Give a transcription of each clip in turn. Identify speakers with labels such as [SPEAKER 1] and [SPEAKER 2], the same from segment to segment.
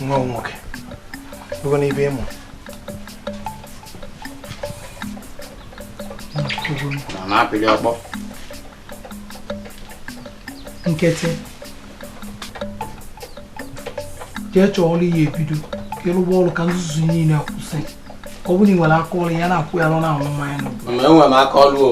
[SPEAKER 1] nwa
[SPEAKER 2] nwoke bụgo n'ibe ịmụ
[SPEAKER 1] nkịtị jee chọọ ọrụ ị ya-ebido ka ị rụba ọrụ ka nzuzu niile a kwụsị ọ bụrụ na ị nwere aka ọrụ ị ya na-akwụgharị na-aṅụ mmanya n'obodo enwere m aka ọrụ o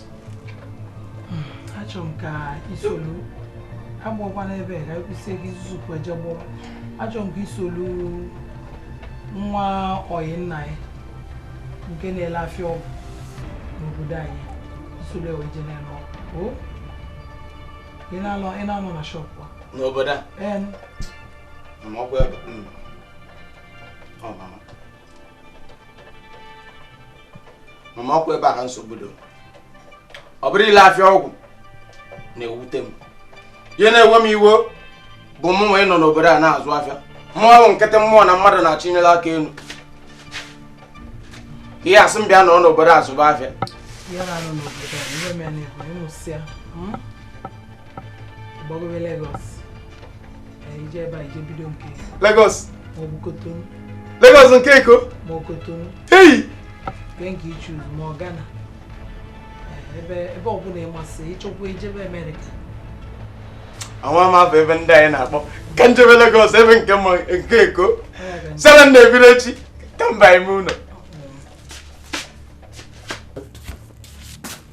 [SPEAKER 1] achọrọ m ka i solu agbọkwa n'ebe ka ekwusie gị zupụ eje gbọwa achọrọ m ka i solu nwa oyi nna ya nke na-ele afịa ọgwụ n'obodo anyị i solu e wee je na-ele ọgwụ ị na-anọ na shọpụ a n'obodo a
[SPEAKER 3] ee ọkwa ebe hmm. ọ mama mama ọkwa ebe a ka nsogbu dị ọ bụrọ ile afịa ọgwụ na-ewute m ihe na-ewe m iwe bụ mụ nwa ịnọ n'obodo a na-azụ afịa mụ bụ nkịtị mmụọ na mmadụ na-achịnyere aka elu ị ya-asị m bịa nọ n'obodo a zụba afịa
[SPEAKER 1] gbagowe Lagos i jee ebe a i jee bido nke
[SPEAKER 3] Lagos maọbụ
[SPEAKER 1] Kotonu Lagos nke
[SPEAKER 3] Eko ma ọ Kotonu
[SPEAKER 1] eyi
[SPEAKER 3] nke nke
[SPEAKER 1] ị choose ma ọ Ghana ebe ebe ọbụla ị masị ị chọkwa ijebe
[SPEAKER 3] Amerịka amarọ m afa ebe ndị ahụ ị na-akpọ ka m jebe Lagos ebe nke m ma nke Eko sara na ebiri echi ka m baa ime ụlọ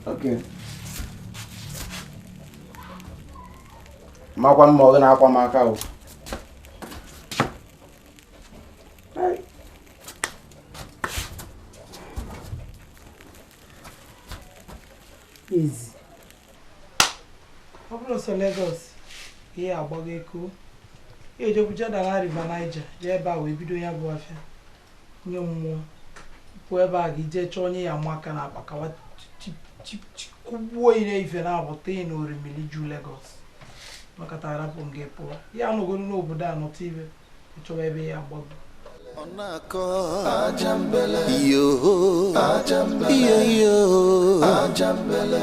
[SPEAKER 3] Okay. makwa na ọ gị na-akwa m aka
[SPEAKER 1] o easy ọ bụrụ sọ Lagos ị ya-agbago Eko ị ya-ejekwu jedala River Niger jee ebe a wee bido ya bụ afịa nye mmụọ pụọ ebe a gị jee chọọ onye ị ya-ama aka n'akpa ka wa kụgbuo ị n'ife ma ọ bụ tụa ị n'orimiri ju Legọs makata arapụ m gị pụọ ị ya-anọgoro n'obodo a nọta ihe ị chọwa ebe ị ya-agbago ọ
[SPEAKER 4] na-akọ ajambele iyo ajambele iyo iyo ajambele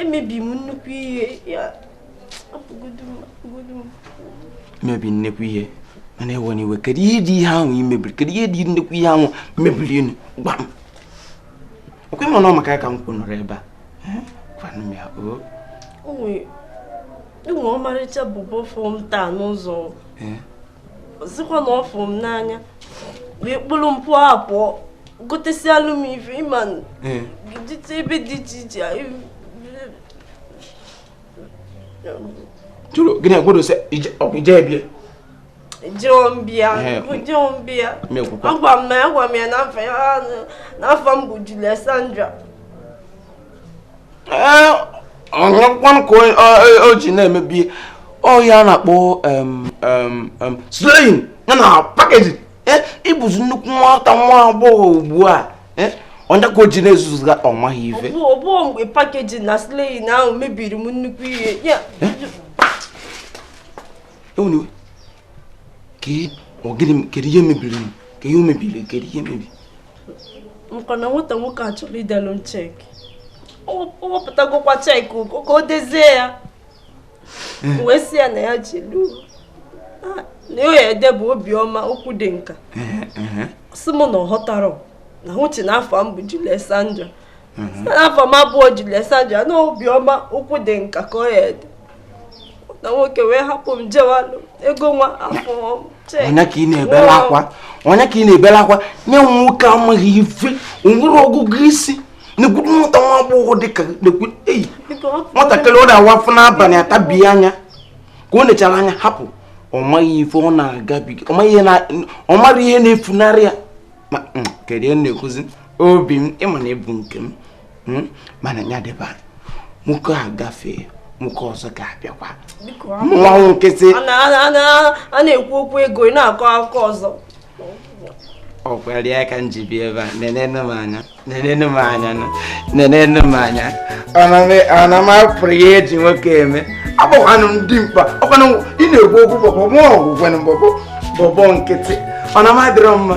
[SPEAKER 5] emebi m nnukwu ihe
[SPEAKER 6] ya mebi nnekwu ihe mana ewena iwe kedu ihe dị ihe ahụ i mebiri kedu ihe dị nnekwu ihe ahụ i mebiri nụ gwa m ọkwa ị ma na ọ maka ya ka m kwuru nọrọ ebe a gwanụ m ya o e
[SPEAKER 5] nwe ọmarịcha bọbọ fụ m taa n'ụzọ ọ sịkwa na ọ fụrụ m n'anya wee kpụrụ m pụọ apụọ gotesialụ m ife ịma dịta ebe dị iche iche
[SPEAKER 6] jụrụ gịnị agwado sị ije ebie
[SPEAKER 5] Jombia, Jombia. Agwa m na agwa m ya na afa m bụ Julie Sandra.
[SPEAKER 6] onyekwanụ ka o ji na-emebi ọ ya a na-akpọ slaying ya na packaging ịbụzi nnukwu nwata nwa agbọghọ ugbu a onye ka o ji na-ezuzuga ọ maghị ife ọ bụ mgbe
[SPEAKER 5] packaging na slaying ahụ mebiri m
[SPEAKER 6] nnukwu ihe ewena iwe ka ọ gịnị kedu ihe mebiri m ka ihe o mebiri kedu ihe
[SPEAKER 5] mebiri maka na
[SPEAKER 6] nwata
[SPEAKER 5] nwoke a chọrọ
[SPEAKER 6] idelu
[SPEAKER 5] m cheque ọ wepụtagokwa cheque ego ka o dezie ya eh. wee sị ya na ya ji lu na ya ede bụ Obiọma Okwudịnka eh, eh, sị m na ọ ghọtarọ na o che na afa m bụ Julie Sandra afa m abụrọ Julie Sandra na Obiọma Okwudịnka ka ọ ya-ede na nwoke wee hapụ m jewa ego nwa afọ onye ka ị na-ebela
[SPEAKER 6] akwa onye ka ị na-ebela akwa nwa nwoke amaghị ife o nwerọ ọgụgụ isi na-egwuru nwata nwa agbọghọ dị ka nwatakịrị ọ na-awa afọ n'abalị atabighị anya ka o nechara anya hapụ ọ maghị ife ọ na-agabiga ọ marọ ihe na-efunarị ya mm, kedu ihe na-ekwuzi obi m ị ma na ị bụ nke m hmm? mana ya dịba nwoke a gafee nwoke ọzọ ga-abịakwa nwa nkịtị a na-ekwu okwu
[SPEAKER 5] ego ị na-akọ akụkọ ọzọ
[SPEAKER 6] ọ kwarọ ya ka m ji bịa ebe a nenenu m anya nenenu m anya nenenu m anya ana m apụrụ ya eji nwoke eme abụkwanụ m dị mkpa ọkwanụ ị na-ekwu okwu bọbọ mụ ọgwụgwanụ bọbọ bọbọ nkịtị ọ na m adịrọ mma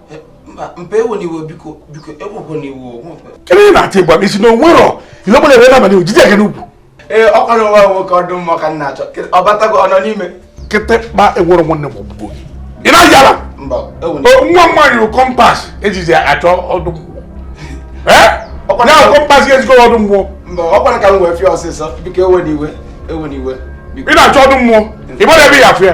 [SPEAKER 6] ebe ị na-atị
[SPEAKER 2] gwa m isi na o nwerọ ihe ọbụla ebe na-abalị ojije gị n'ugwu ee ọ kwarọ
[SPEAKER 6] nwa nwoke ọdụ mmụọ ka m na-achọ ọ batago ọ nọ n'ime kịtịkpa
[SPEAKER 2] enwerọ nwanne m ọgbụgbọ gị ị na-aja ala nwa nwaanyị rụ compass ejizi achọ ọdụ mmụọ ya compass ga-ezikọ ọdụ mmụọ ọ kwara ka m wee
[SPEAKER 6] fie ọsịsọ biko ewena iwe ewena iwe ị na-achọ
[SPEAKER 2] ọdụ mmụọ ị gbara ebe ya afịa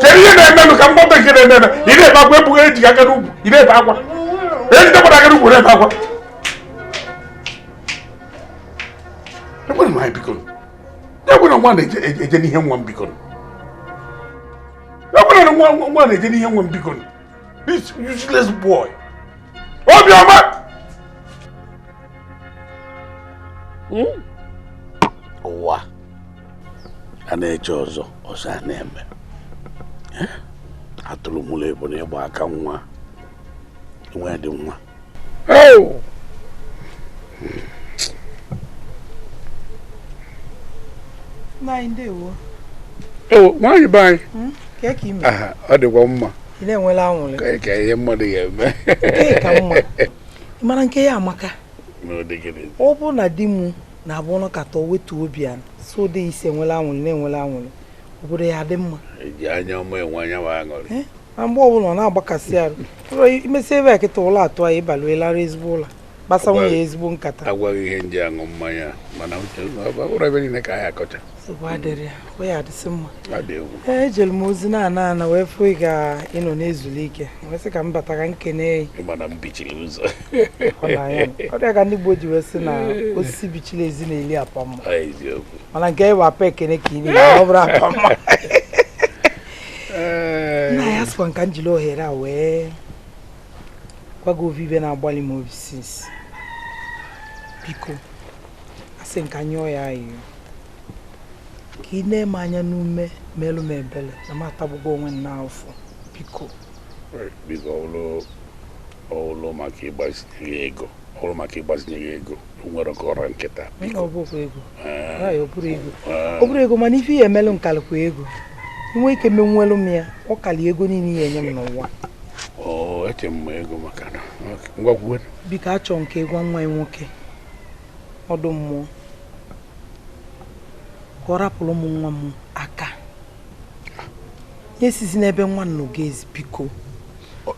[SPEAKER 2] chere ihe na-emenụ ka m ghọta nke na-eme eme ị na-ebe akwa ebughị eji aka n'ugwu ị na-ebe akwa ejide gbara aka n'ugwu na-ebe akwa ekwere m anyị biko ekwere nwa na-eje n'ihe nwa m biko ekwere na nwa nwa na-eje n'ihe nwa m biko this useless boy obiọma ụwa a na-eche ọzọ ọzọ a na-eme eh? atụrụ mụrụ ebunu gba aka nwa nwa dị nwa nwaanyị be anyị kee ka ị mee? ọ dịkwa mma ka ihe mmadụ ga-eme
[SPEAKER 1] ka mma ịmara nke ya maka ọ bụrụ na di m na-abụ ọ nọkata o wetuo obi a so dị isi enwela aṅụrị na enwela aṅụrị obodo ya dị mma eji anya ọma enwe
[SPEAKER 2] anya ma aṅụrị eh? na mgbe ọbụla ọ
[SPEAKER 1] na-agbakasị arụ imesi ebe a kịta ụla atụ anyị ịbalụelara ezigbo ụla kpasa nwunye ezigbo nkata agwa gị ihe m ji aṅụ
[SPEAKER 2] mmanya mana ụra ebe niile ka anyị akọcha
[SPEAKER 1] ejere m ozi na-ana ana wee fụ ị ka ị nọ na-ezuli ike wee sị ka m bata ka m kenee ị ọ ya ka ndị Igbo ji wee sị na osisi bichiri ezi na-eli apa mma mana nke ịwa apa ekene ka ị na-eli ọ bụrọ apa mma nna anyị asịkwa m ka m jiri ohere a wee gwa gị ovu ive na-agbalị m obi since biko asị m ka m yọọ ị ayịyọ ka i nee m anya n'ume merụ m ebere na m atagbugo onwe m n'afụfụ biko biko
[SPEAKER 2] ọ wụlụ maka ịgbazinye gị ego ọ wụrụ maka ịgbazinye gị ego nwere
[SPEAKER 1] nke ọra nkịta ọ bụrọ ego mana ife ị ya-emelụ m kalịkwa ego i nwee ike menwulu m ya ọ kalị ego niile ị ya-enye m n'ụwa
[SPEAKER 2] eche m ego maka na ngwa kwuwe biko achọ m
[SPEAKER 1] ka ị gwa nwa ị nwoke ọdụmmụọ ka ọ rapụrụ mụ nwa m aka ya esizina ebe nwa m nọ gazi biko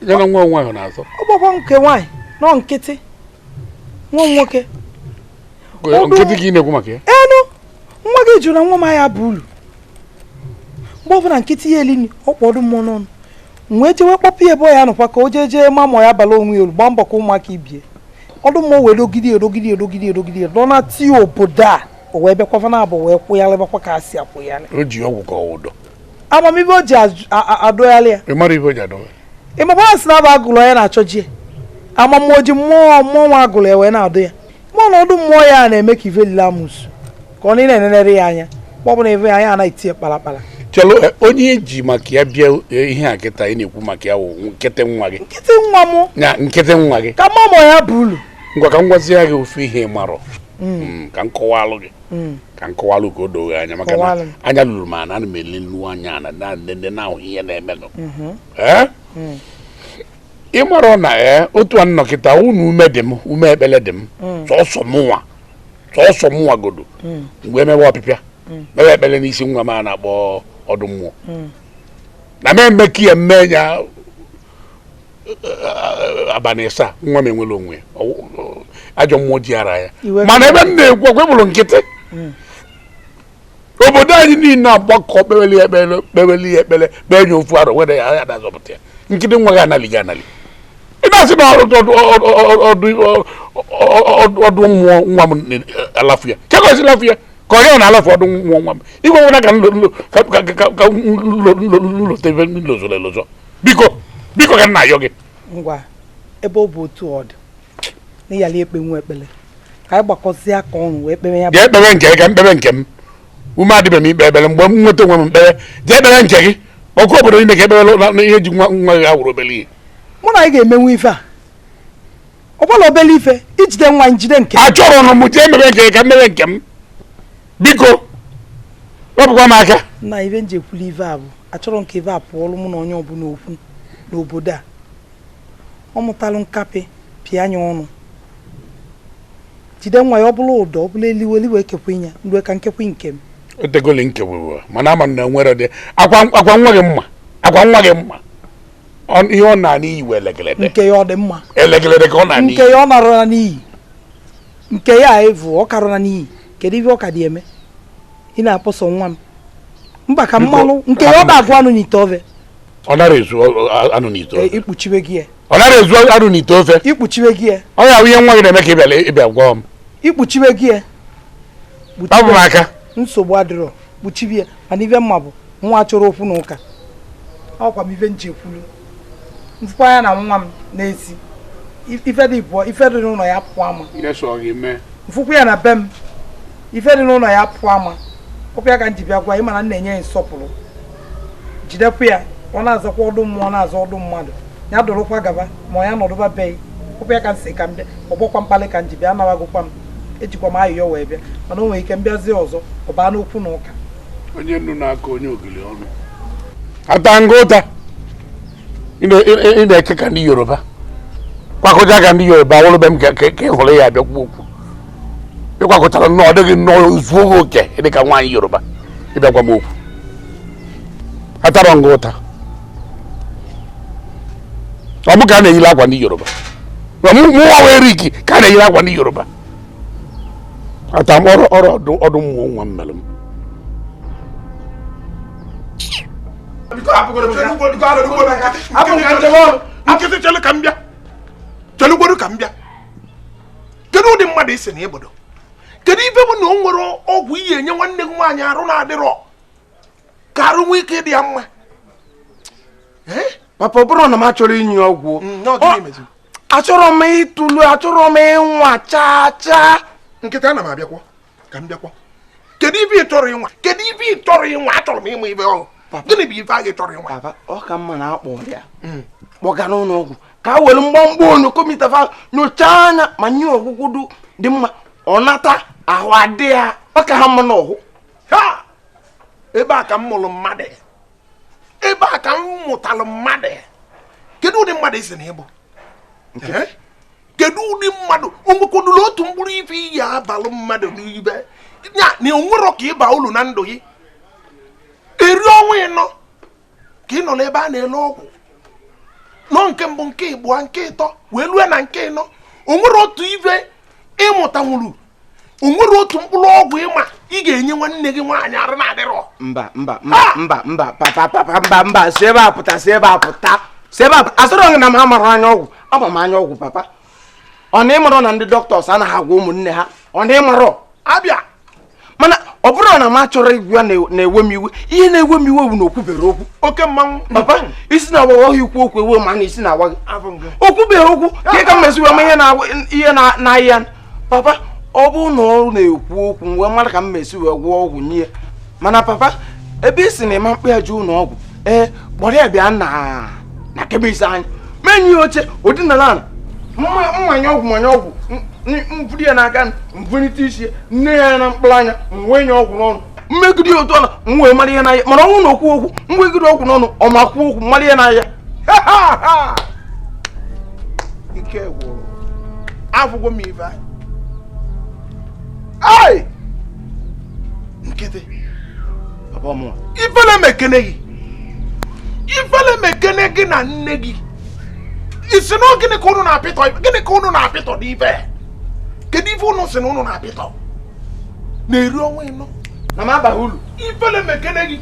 [SPEAKER 1] ya na
[SPEAKER 2] nwa nwa ahụ na-azọ ọ bụkwa nke nwaanyị
[SPEAKER 1] no nkịtị nwa m
[SPEAKER 2] nwoke nkịtị ka ị na-ekwu maka ya
[SPEAKER 1] enu nwa gị jụrụ nwa m ahịa bụ ulu mgbe ọbụla nkịtị ya-eli nni ọ kpọ ọdụmmụọ n'ọnụ m wee jewe kpọpụ ya ebe ọ ya-anọkwa ka o jee jee ma ma ya bala onwe ya ulu gbaa mbọ ka ụmụaka ibe ya ọdụmmụọ wee dogide edogide edogide edogide nọ na tii obodo a o wee bịakwa fa naabọ wee kwụgharịbakwa ka a si akwụgharị o ji ọgwụ ka ọ wụ
[SPEAKER 2] ụdọ ama m ive o
[SPEAKER 1] ji ajụ- a- a- adọgharị ya ị mara ive o ji
[SPEAKER 2] adọwa ị makwa na a sị na abụ
[SPEAKER 1] agụlụ onye na-achọ ji ya amammoji mmụọ mmụọ nwa agụlụ ya wee na-adụ ya ma na ọdụ mmụọ ya na-eme ka ive lili amụsụ ka a na-enenere ya anya ma ọ bụ na ive ya anaghị tie kpalakpala chelo eh, onye
[SPEAKER 2] eji maka ya bịa eh, ihe a kịta ị na-ekwu maka ya wụ nkịtị nwa gị nkịtị nwa m
[SPEAKER 1] ya nkịtị nwa gị
[SPEAKER 2] ka mama ya
[SPEAKER 1] bụ ulu ngwa ka m
[SPEAKER 2] gwazie gị ofu ihe ị marọ mm. Mm, ka m kọwalụ gị mm. ka m kọwalụ ka o doo gị anya maka na anya luru m ana ana m ele nnu anya ana m ahụ ihe na-emenụ mm-hmm. eh? ị marọ na ee otu a m nọ kịta unu ume dị m ume ekpele dị m sọsọ mụnwa sọsọ mụnwa godo mgbe emewe ọpịpịa mewe ekpele n'isi nwa m a na-akpọ ọdụ mmụọ na m eme ka ya mme ya abalị ịsa nwa m enwere onwe ya. Ọ- ọ- ajọ mmụọ ji ya araa ya mana ebe m na-ekwu ọkwa bụrụ nkịtị obodo anyị niile agbakọ kpeweli ekpere kpeweli ekpere kpee nye ofu arọ were ya ya dazọpụta ya nkịtị nwa gị anali gị anali ị na-asị na ọdụ mmụọ nwa m alafu ya kee ka o si lafu ya ka onye ọ na-alafu ọdụ mmụọ nwa m igwe nwere ka m lota ife m lozọrọ elozọ biko biko ka m na-ayọ gị ngwa
[SPEAKER 1] ebe ọ bụ otu ọ dị na ị yali ekpenwu ekpere ka anyị gbakọzie aka ọnụ wee kpere ya jee kpewe nke gị ka m
[SPEAKER 2] kpewe nke m ume adịbeghị m ikpe ekpere mgbe m nweta onwe m m kpewe jee kpewe nke gị ọkwa obodo niile ga-ekpebe na ihe ji nwa nwa gị awụrọ obere ihe mụ na gị ga-emenwu
[SPEAKER 1] ife a ọ bụrọ obere ife ijide nwa njide nke achọrọ ọnụ m jee
[SPEAKER 2] mebe nke gị ka m mebe nke m biko wepụkwa m aka na ife m ji ekwuli
[SPEAKER 1] ife a bụ achọrọ m ka ife a pụọlụ mụ na onye ọbụla okwu n'obodo a ọ mụtalụ nkapị pịa ya ọnụ jide nwa ya ọ bụlụ ụdọ ọ bụlụ elili wee kekwe ya mgbe ka m kekwe nke m o tegoli m
[SPEAKER 2] kekwuru mana ama na nwere dị akwa akwa nwa gị mma akwa nwa gị mma Ọ- ihe ọ na-ana iyi wee elegelede nke ya ọ dị
[SPEAKER 1] mma elegelede ka ọ na-ana
[SPEAKER 2] nke iyi ya ọ narụla
[SPEAKER 1] n'iyi nke ya a evu ọ karọ ana n'iyi kedu ive ọ ka dị eme ị na-akpọsọ nwa m mba ka Biko, m malụ nke ya ọ hapụ m. na-agụ anụ n'ite ofe ọ nara ezu
[SPEAKER 2] anụ n'ite ofe e, ikpuchiwe gị ya ọ nara
[SPEAKER 1] ezu anụ n'ite ofe ikpuchiwe gị ya ọ ya ihe
[SPEAKER 2] nwa gị na-eme ka ị bịara ịbịa gwa m ikpuchiwe gị
[SPEAKER 1] ya ọ
[SPEAKER 2] bụ m aka nsogbu adịrọ
[SPEAKER 1] kpuchiwe ya mana ive m ma bụ nwa chọrọ okwu na ụka ọkwa ife m ji kwulu m fụkwa ya na nwa m n'ezi ife dị bụọ ife dị n'ụlọ ya pụọ ama m fụkwa ya na be m ife dị n'ụlọ ya pụọ ama ọkwa ya ka m ji bịa gwa ị mana m na-enye ya nsọpụrụ jidekwa ya ọ na-azakwa ọdụ mmụọ ọ na-aza ọdụ mmadụ ya dụrụkwa gaba ma ya nọdụba be ị ọkwa ya ka m sị ka m bịa ọ bụrọkwa mkpalị ka m ji bịa anawagokwa m ejikwa m ayịyọ wee bịa mana o nwere ike m bịazie ọzọ ọ baa n'okwu na ụka onye nnu
[SPEAKER 2] na-aka onye ogili ọnụ atana m ụta ị na-eke ka ndị yoruba kwakọcha ka ndị yoruba wụrụ be m ka ị hụrụ ya abịa kwuo okwu ị kwakọchara nnọọ ọ dịghị nnọọ zuo gị oke ị dị ka nwaanyị yoruba ị bịa gwa m okwu atarọ m gị ụta ọ mụ ka a na-eyiri akwa ndị yoruba mụnwa wee rik ka a na-eyiri akwa ndị yoruba ata m ọrụ ọrụ ọdụ mụ onwe m mere m
[SPEAKER 3] nkịtị chelu ka m bịa chelugodu ka m bịa kedu ụdị mmadụ ị sị na ị bụdu kedu ife bụ na o nwerọ ọgwụ ị ya-enye nwanne gị nwaanyị arụ na-adịrọ ka arụ nwee ike ịdị ya
[SPEAKER 6] mma papa ọ bụrụ na m achọrọ inye ọgwụ mm, achọrọ m ịtụlu achọrọ m ịnwa chaa chaa nkịtị ana m
[SPEAKER 3] abịakwa ka m bịakwa kedu ife ị chọrọ ịnwa kedu ife ị chọrọ ịnwa achọrọ m ịma ife ọ bụ gịnị bụ ife ahụ ị chọrọ ịnwa papa ọ ka mma na
[SPEAKER 6] a kpọrọ ya hmm. kpọga n'ụlọ ọgwụ ka e were mgbamgba onu kọmpụta nyochaa anya ma nye ọgwụgwọ dị mma ọ nata ahụ adị ya ọ ka ha mma
[SPEAKER 3] n'ọhụ ebe a ka m mụrụ mmadụ ebe a ka m mụtalụ mmadụ kedu
[SPEAKER 2] ụdị mmadụ ị sị na ị bụ kedu ụdị mmadụ o nwekwadụla otu mkpụrụ ife ị ya-abalụ mmadụ n'ibe ya na o nwerọ ka ị ba ulu na ndụ gị eri ọnwa ịnọ ka ị nọ n'ebe a na-ele ọgwụ nọ nke mbụ nke ịbụọ nke ịtọ wee lue na nke ịnọ o nwere otu ife ị mụtanwuru o nwere otu mkpụrụ ọgwụ ị ma ị ga-enye nwanne gị nwaanyị arụ na-adịrọ mba mba mba ah! mba mba
[SPEAKER 6] papa papa mba mba si ebe a pụta si ebe a pụta si ebe a pụta asịrọ m gị na m amarọ anya ọgwụ ama m anya ọgwụ papa ọ na ị marọ na ndị dọkịtọs anaghị agwọ ụmụnne ha ọ na ị marọ
[SPEAKER 2] abịa
[SPEAKER 6] mana ọ bụrụ na m achọrọ ịgwọ ya na-ewe m iwe ihe na-ewe m iwe bụ na o kwubere okwu oke mmanwụ papa
[SPEAKER 2] isi
[SPEAKER 6] na-awa ọ ya-ekwu okwu e wee ma na isi na-awa gị o kwubere okwu ka ị ka m mesiwe m ihe na-arịa papa ọ bụ na ọ na-ekwu okwu m wee mara ka m esi wee gwọọ ọgwụ nye mana papa ebe ị sị na ị ma-akpọ ya je ụlọ ọgwụ ee kpọrọ ya bịa na kemist anyị m enye ya oche o dina ala m manye ọgwụ m manye ọgwụ m vuru ya n'aka m vulite isi nee ya na mkpụrụ anya m wee nye ọgwụ n'ọnụ m megide ya otu ọla m wee mara ihe na-arịa mana ọnwụ na okwu okwu m wegide ọgwụ n'ọnụ ọ ma kwuo okwu mara ihe na-arịa
[SPEAKER 2] ike gwụrụ afụgo m ife anyị nkịtị ifele mekene gị ifele mekene gị na nne gị ị sị na gịnị ka unu na-apịtọ gịnị ka unu na-apịtọ n'ife kedu ife unu sị na unu na-apịtọ na-eri ọnwa ịnọ na m abaghị ulu
[SPEAKER 6] ifele mekene gị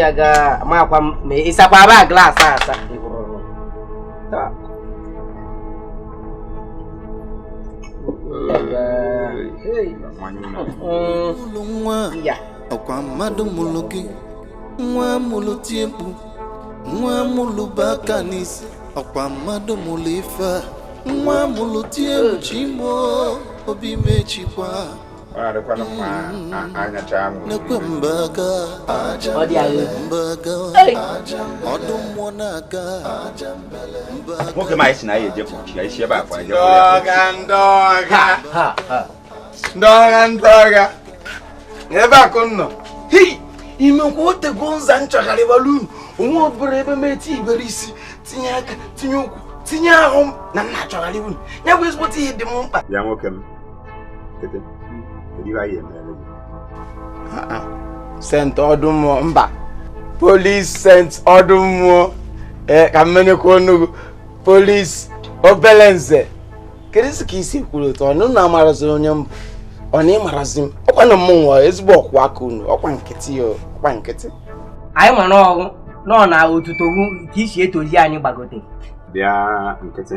[SPEAKER 7] ya
[SPEAKER 8] ga makwa m ma ị sakwaba glaasị
[SPEAKER 4] asa ọkwa mmadụ mụrụ gị nwa mụrụ tie mkpu nwa mụrụ bu aka n'isi ọkwa mmadụ mụrụ ife a nwa mụrụ tie mkpu chi m o obi mechikwa
[SPEAKER 7] nwoke m anyị si na anyị ejepụ ka isi ebe akwa ndị
[SPEAKER 3] ọga ndị ọga ndị ọga ndị ọga ebe akụ
[SPEAKER 6] nọ imekwa o tego nza m chọgharịwara unu onwe ọbụla ebe m etinyeberọ isi tinye aka tinye ụkwụ tinye ahụ m na m na-achọgharị unu ya bụ ezigbote ihe dị m mkpa ya nwoke m sent ọdụ mmụọ mba polis sent ọdụ mmụọ ee ka m menyekwa onugu polis obele nze keduzi ka i si kwuru otu ọnụ na amarazi onye m bụ ọ na ị marazi m ọkwa na mmụnwa ezigbo ọkwụ aka unu ọkwa nkịtị ya ọkwa nkịtị anyị
[SPEAKER 8] ma n'ọrụ nọ na otuto ka i si etozi anyị gbagote bịa
[SPEAKER 7] nkịtị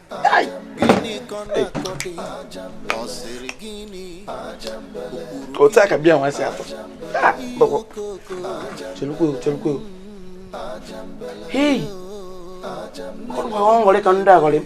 [SPEAKER 4] otu a ka bịa nwa
[SPEAKER 6] si atọ chelukwe chelukwe hei ọ nwere ka ndị aghọrị m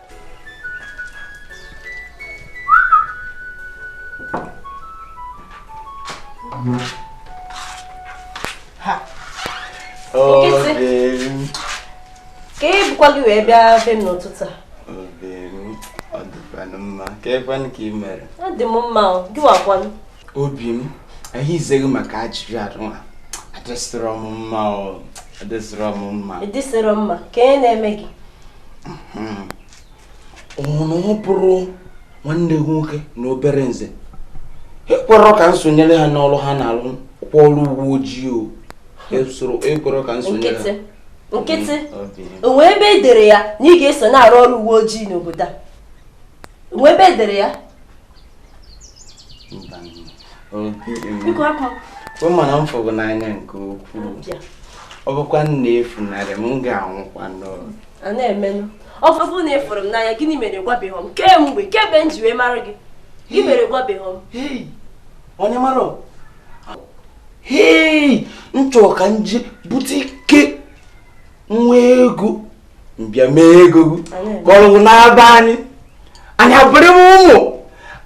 [SPEAKER 5] kee ihe bukwa gị wee bịa be m n'ụtụtụ a ọ dịkwanụ
[SPEAKER 6] mma keekwanụ ka ị mere ọ dị m mma
[SPEAKER 5] gịwa kwanụ obi
[SPEAKER 6] m ihe izeghị maka ajụjụ adịnwa adịsịrọ m mma adịsịrọ m mma ị dịsịrọ mma kee
[SPEAKER 5] ihe na-eme gị hmm.
[SPEAKER 6] ọ na ọ bụrọ nwanne gị nwoke na obere nze ekwerọ ka m sonyere ha n'ọrụ ha na-alụ kwa ọrụ uwe ojii o ekwerọ ka m sonyere ha nkịtị
[SPEAKER 5] hmm, o nwere ebe e dere ya na ị ga-eso na-arụ ọrụ uwe ojii n'obodo a o nwe ebe e dere ya ị ma na m fụrụ
[SPEAKER 6] gị n'anya nke ukwuu ọ bụkwa na i funarị m m ga-anwụkwanụ
[SPEAKER 5] a na-emenụ ọ bụrụ na ị fụrụ m n'anya gịnị mere ị gwabeghị m kemgbe kemgbe m ji wee mara gị gịnị mere ị gwabeghị
[SPEAKER 6] m onye mara hei m chọrọ ka m je bute ike nwee ego m bịa mee ego kọrọgwụ na-aba anyị anyị abụrụ ụmụ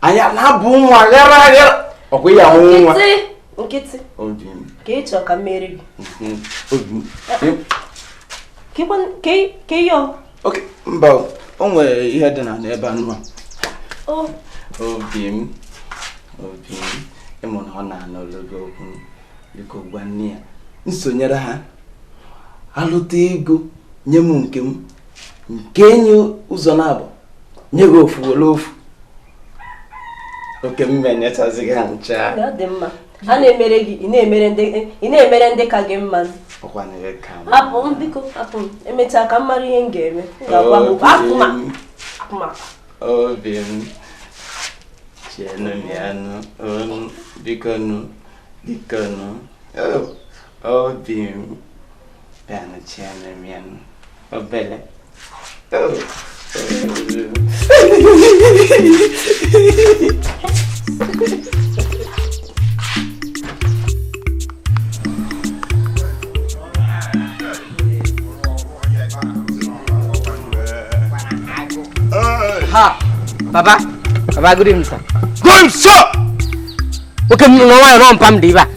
[SPEAKER 6] anyị na-abụ ụmụ aghara aghara ọkwa ya ahụ nwa nkịtị ka ị chọọ ka
[SPEAKER 5] m mere gị
[SPEAKER 6] ka
[SPEAKER 5] ihe oke
[SPEAKER 6] mba o nwere ihe dị na n'ebe anụ a obi m obi m ị ma na ọ na-anụ olu gị okwu biko gwa nne ya m sonyere ha alụta ego nye m nke m m kee ya ụzọ naabụ nye gị ofu were ofu ọ ka m nyechazi gị ha ncha a
[SPEAKER 5] na-emere gị ị na-emere ndị ka gị mma
[SPEAKER 6] hapụ m
[SPEAKER 5] biko hapụ m emechaa ka m mara ihe m ga-eme ga-agwa m akụma obi
[SPEAKER 6] m chenụ ya nụ biko nụ biko nụ obi m bịanụ chenụ m ya nụ obele
[SPEAKER 8] ha baba baba good evening sir good evening sir okay m nọ nwaanyị nọ mpa m dị ibe a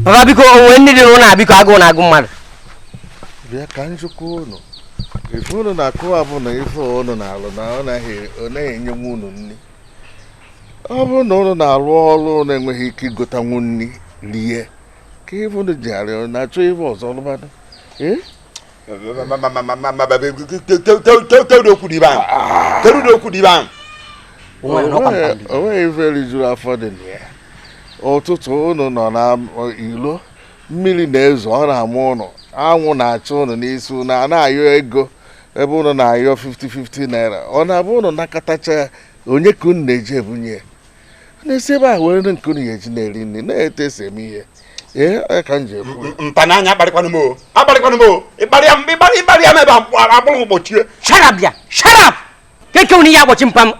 [SPEAKER 8] baba biko o nwee nni dị n'ụlọ a biko agụụ na-agụ mmadụ
[SPEAKER 9] bịa ka m jụkwa ụnụ ife ụnụ na-akọ a bụ na ife ụnụ na-alụ na ọ naghị enyenwu ụnụ nri ọ bụrụ na ụnụ na-alụ ọrụ na-enweghị ike igotanwu nri rie kee ife unu ji ghara na-achọ ife ọzọ lụbadụ kedu okwu dị ibe ahụ kedu ụdị okwu dị ibe ahụ o nweghị ife rijuru afọ dị na ya ụtụtụ unu nọ na ilo mmiri na-ezo ọ na-ama ụnụ anwụ na-acha ụnụ n'isi unu ana-ayọ ego ebe ụnụ na-ayọ 50-50 naira ọ na-abụ ụnụ nakọtacha onye ka unu na-eji ebunye na-esi ebe a were nri nke unu ga-eji na-eri nri na etu e si eme ihe ee onye ka m ji ekwu ya. mpa n'anya akparịkwanụ m o
[SPEAKER 7] akparịkwanụ m o ị kparịa m ị kparị ị kparịa m ebe a akpụrụ m gbochie shut up bịa shut
[SPEAKER 8] up keke unu ihe agbochi mpa m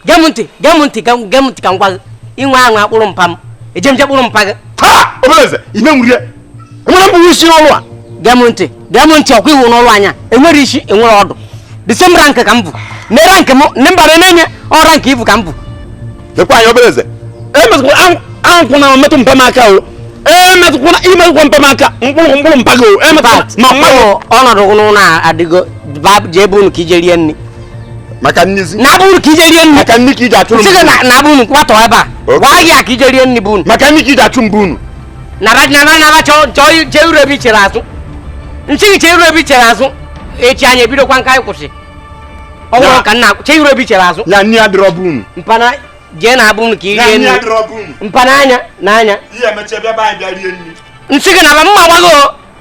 [SPEAKER 8] gee m ntị gee m ntị gee m- gee m ntị ka m gwa gị ị nwaa anwa kpụrụ mpa m eje m je kpụrụ mpa gị ha obere eze
[SPEAKER 7] ime nwurie nwere m bụ isi n'ọrụ a gee m ntị gee m
[SPEAKER 8] ntị ọkwa iwu n'ọrụ anyị a e nwere isi e nwere ọdụ the same rank ka m bụ ne rank m ne mba
[SPEAKER 7] na-enye
[SPEAKER 8] ọ rank ibu ka
[SPEAKER 7] m bụ
[SPEAKER 8] lekwa
[SPEAKER 7] anyị
[SPEAKER 8] obere eze emetụkwala ankwụ
[SPEAKER 6] na metụ mpa m aka o emetụkwala i metụkwa mpa m aka m kpụrụ m kpụrụ mpa gị o emetụkwala ma mmadụ ọnọdụ n'ụlọ a adịgo ba- jee be unu ka i je rie nri maka
[SPEAKER 7] nnizi na be unu ka i
[SPEAKER 6] je rie nri maka nni ka i ji achụrụ sị
[SPEAKER 7] gị mbụ na- na be unu kwatọ
[SPEAKER 6] ebe a Okay. gwa gị ya ka i je rie nri be unu maka nni ka i ji achụ m be unu
[SPEAKER 7] naba
[SPEAKER 8] naba naba chọọ chọọ i- chee iru ebe i chere azụ nsị gị chee iru ebe i chere azụ echi anyị ebidokwa nka anyị kwụsị ọ bụrụ Na- ka nna chee iru ebe i chere azụ na nne ya dịrọ be
[SPEAKER 7] unu
[SPEAKER 8] mpana jee naa be unu ka i na rie nne ya nri dịrọ be unu mpana
[SPEAKER 7] anya na
[SPEAKER 8] anya ihe emecha bịa be anyị
[SPEAKER 7] bịa rie nri nsị gị naba
[SPEAKER 8] mma gbago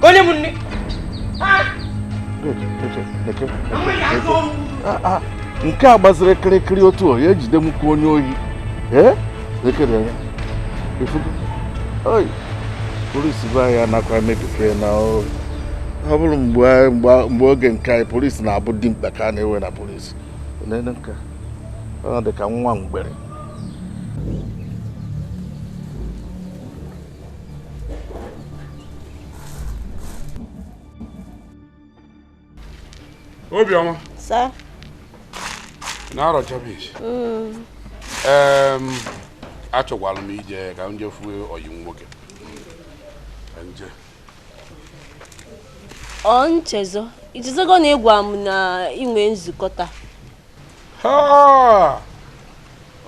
[SPEAKER 8] ka onye m
[SPEAKER 9] nne ah, ah, nke a gbaziri kịrịkịrị otu o ya ejide m ka onye ohi ee ekere anya ifugo onye polisi be anyị anakwa mebike na ọ bụrụ mgbe oge nke anyị polisi na-abụ dimkpa ka a na-ewe na polisi nene nke ọ dị ka nwa mgbere
[SPEAKER 2] Obiọma. Sir. Na-arọ je ebee. Mm. Achọkwala m ije ka m jee fụ ọyị nwoke. Ka m
[SPEAKER 5] jee. Ọ nchezo. Ichezogo na ị gwa m na i nwe nzukọ taa.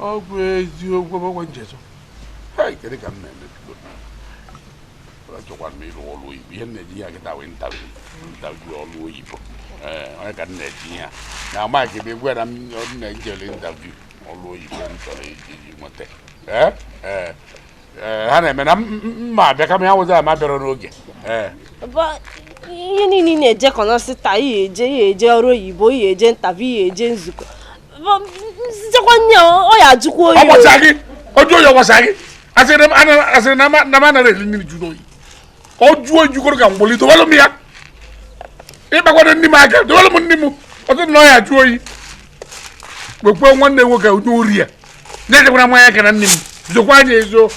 [SPEAKER 2] ọ bụ eziokwu ọ bụkwa nchezo kedu ka m na-eme achọkwara m ịrụ ọrụ oyibo ihe na-eji ya kịta wee interview ọrụ oyibo ọ ya ka m na-eji ya na amaghị ebe egwu na m na-ejele interview ọrụ oyibo m chọrọ iji nweta ee ha na-eme na mma abịa kama ya nwụzi ama bịara n'oge
[SPEAKER 5] ee ihe niile na-eje kọnọsị taa ị ya-eje ị ya-eje ọrụ oyibo ị ya-eje interview ị ya-eje nzukọ nsikwa nri ọ ya-ajụkwa oyi ọ gbasa gị ọ jụọ oyi ọ gbasa gị asịrị na m anarọ eri nri jụrụ oyi ọ jụọ ejukọrọ ka mgboli dowelụ m ya ị kpakwana nni m aka dowelụ m nni m ọ sị na ọ ya-ajụ oyi kpekpe nwanne nwoke onye ori ya na-ejekwara mmanya aka na nni m zokwaa ya ezo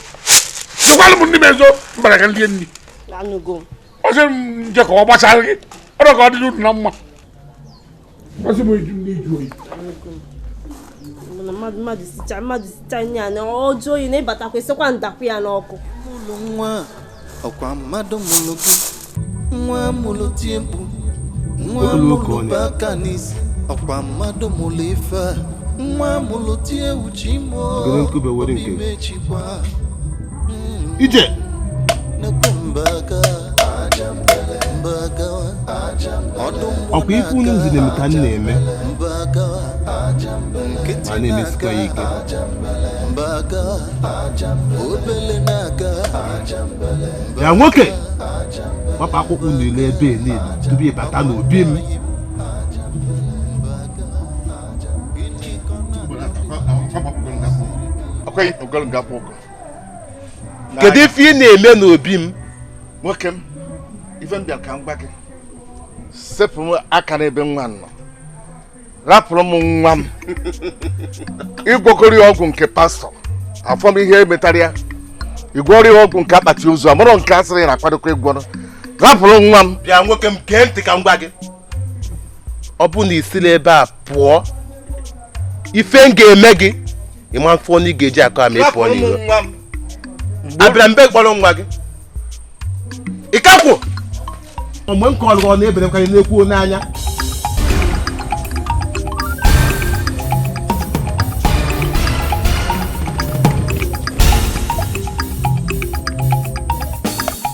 [SPEAKER 5] zokwalụ m nni m ezo m bata ka m lie nni ọ sị m nje ka ọ gbasara gị ọrụ ka ọ dịrị unu na mma Ma sị m eju nni jụ oyi. Mmadụ mmadụ mmadụ sicha mmadụ sicha nye ya na ọ jụọ oyi na ị batakwa sịkwa ndakwa ya n'ọkụ. Mụlụ nwa ọkwa mmadụ mụlụ gị
[SPEAKER 4] nwa mụlụ tie mkpu nwa mụlụ bu aka n'isi ọkwa mmadụ mụlụ ife a nwa mụlụ tie ewu chi m o Obi mechikwa
[SPEAKER 9] ije ọkwa ife unu nzi na-eme ka m na-eme ma na-emesikwa ya ike ya nwoke gbapụ akpụkpọ ụkwụ niile ebe niile tupu ịbata n'obi m kedu ife ị na-eme n'obi m nwoke m ife m bịara ka m gwa gị sepụ m aka n'ebe nwa nọ rapụrụ m nwa m ị gwọgoro ya ọgwụ nke pastor afụ m ihe e metara ya ị gwọrọ ya ọgwụ nke akpati ozu amarọ nke a sịrị na-akwadokwa ịgwọrọ rapụrụ nwa m bịa nwoke m gee ntị
[SPEAKER 10] ka m gwa gị
[SPEAKER 9] ọ bụ na i sirọ ebe a pụọ ife m ga-eme gị ị ma-afụ ọnụ ị ga-eji akọ ama ị pụọ n'iro
[SPEAKER 10] abịara mbe kpọrọ nwa gị ị ka kwụ
[SPEAKER 9] mgbe m kọrọ ọ na-ebere nkwanye na-ekwu n'anya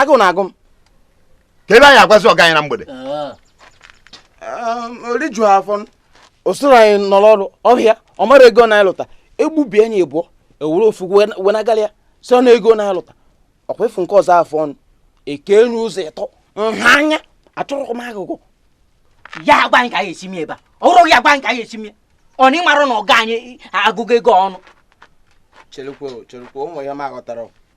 [SPEAKER 6] agụụ na-agụ m ka ebe
[SPEAKER 10] anyị agwazi ọga anyị na
[SPEAKER 6] mgbede o riju afọ o soro anyị nọ n'ọrụ ọhịa ọ mara ego na anyị lụta e gbubie ya ibụọ e were ofu wenagala ya si ọnụ ego na anyị lụta ọkwa ofu nke ọzọ afọ ọnụ e kee ya ụzọ ịtọ nha anya achọrọkwa m agụgọ
[SPEAKER 8] ya agwa anyị ka anyị esi mie ebe a ọ bụrụ ya agwa anyị ka anyị esi mie ọ na ị marọ na ọga anyị agụgụ ego ọnụ cherekwa
[SPEAKER 6] cherekwa ụmụ ya ma aghọtara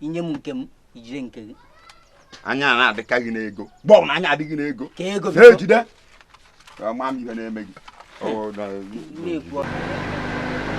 [SPEAKER 8] i nye m nke m i jide nke gị anya
[SPEAKER 7] na-adịka gị n'ego mgbe ọbụla anya dị gị n'ego ka ego biko na-ejide ama m ihe na-eme gị Ọ bụ na- na-ekwu ọ-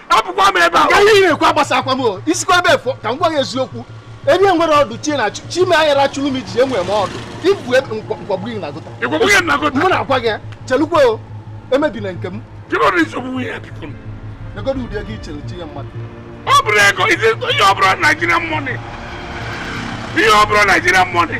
[SPEAKER 2] apụkwa m ebe a ka ihe na-ekwu agbasakwa
[SPEAKER 10] m i sikwa ebe a fụọ ka m gwa gị eziokwu ebe m nwerọ ọdụ chi na chi m ya na-achụrụ m ijiji enwerọ m ọdụ ibu e, m kpọgbu gị na gutter mụ na-agwa
[SPEAKER 2] gị
[SPEAKER 10] chelukwa o emebila nke
[SPEAKER 2] m negodo ụdị
[SPEAKER 10] ego i chere chi ya mmadụ ọ bụrọ ego
[SPEAKER 2] ihe ọ bụrọ Nigerian money ihe ọ bụrọ Nigerian money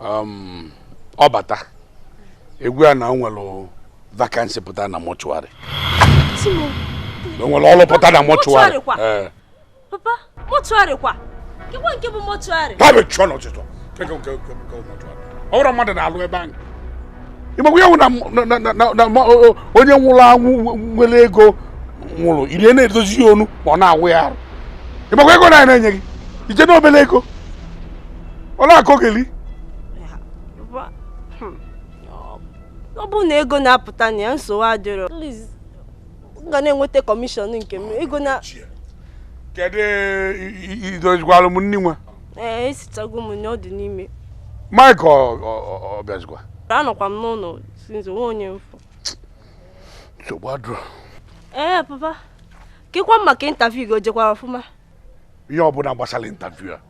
[SPEAKER 2] um, ọ bata ị gwa ya na o nwere vacancy pụta na
[SPEAKER 5] mortuary o nwere
[SPEAKER 2] ọrụ pụta na mortuary eh. papa
[SPEAKER 5] mortuary kwa kekwa nke bụ mortuary ha bụ chụọ n'ọchịchọ
[SPEAKER 2] kekwa nke bụ mortuary ọ bụrọ mmadụ na-alụ ebe ahụ ị makwa ya nwụ na onye nwụrụ anwụ nwere ego nwụrụ iri na-edozi ya onu ma ọ na-awụ ya arụ ị makwa ego a na-enye gị i che n'obele ego ọ
[SPEAKER 5] na-akọgeli ọ bụrụ na ego na-apụta na ya nsogbu adịrọ m ga na-enweta commission nke m ego na kedu
[SPEAKER 2] i dozikwalụ m nri nwa ee
[SPEAKER 5] esichago m na ọ dị n'ime
[SPEAKER 2] Mike ọ bịazikwa anọkwa m
[SPEAKER 5] n'ụlọ since nwa onye m
[SPEAKER 2] fụ nsogbu adịrọ
[SPEAKER 5] ee papa kekwa maka interview gị o jekwara ọfụma ihe ọbụla
[SPEAKER 2] gbasara interview a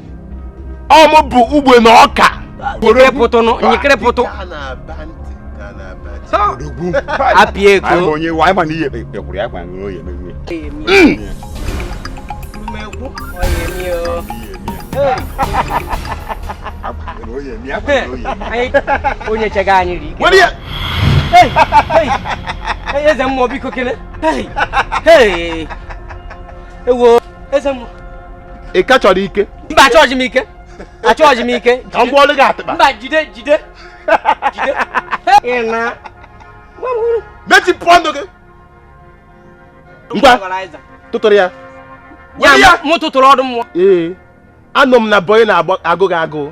[SPEAKER 11] ọ mụ bụ ugbe na ọka
[SPEAKER 8] nyekịrịpụtụnụ nyekịrịpụtụ apịa
[SPEAKER 7] ego
[SPEAKER 8] onye chega anyị ri eze mmụọ biko kele ewo eze mmụọ ị ka
[SPEAKER 11] chọrọ ike mba achọghị m
[SPEAKER 8] ike achọghị m ike ka m gwọọlụ gị
[SPEAKER 11] atịkpa mba jide jide
[SPEAKER 8] jide ị na nwa m hụrụ
[SPEAKER 11] mechipụ ọnụ gị ngwa ọgọnaiza tụtụrụ ya were ya ya
[SPEAKER 8] mụ tụtụrụ ọdụ mmụọ ee
[SPEAKER 11] anụ m na bọyị na-agụ gị agụụ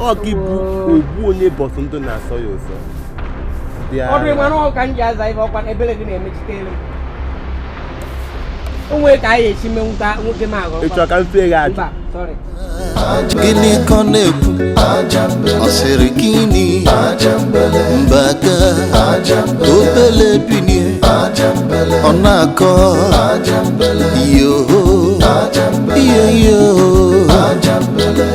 [SPEAKER 11] ọ gị bụ ogbu onye mbọsị ndụ na-asọ ya
[SPEAKER 8] ụsọ ọdụ ị ma na ọka m ji aza ife ọ kwa ebere gị na-emechite elu o nwere ka anyị esi mee nwoke nwoke m aghọrọ ị chọ ka m fee gị
[SPEAKER 11] ajụ
[SPEAKER 8] gịnị
[SPEAKER 4] ka ọ na-ekwu ọ sịrị gịnị mbaga obele binie ọ na-akọ yoho iyo yoho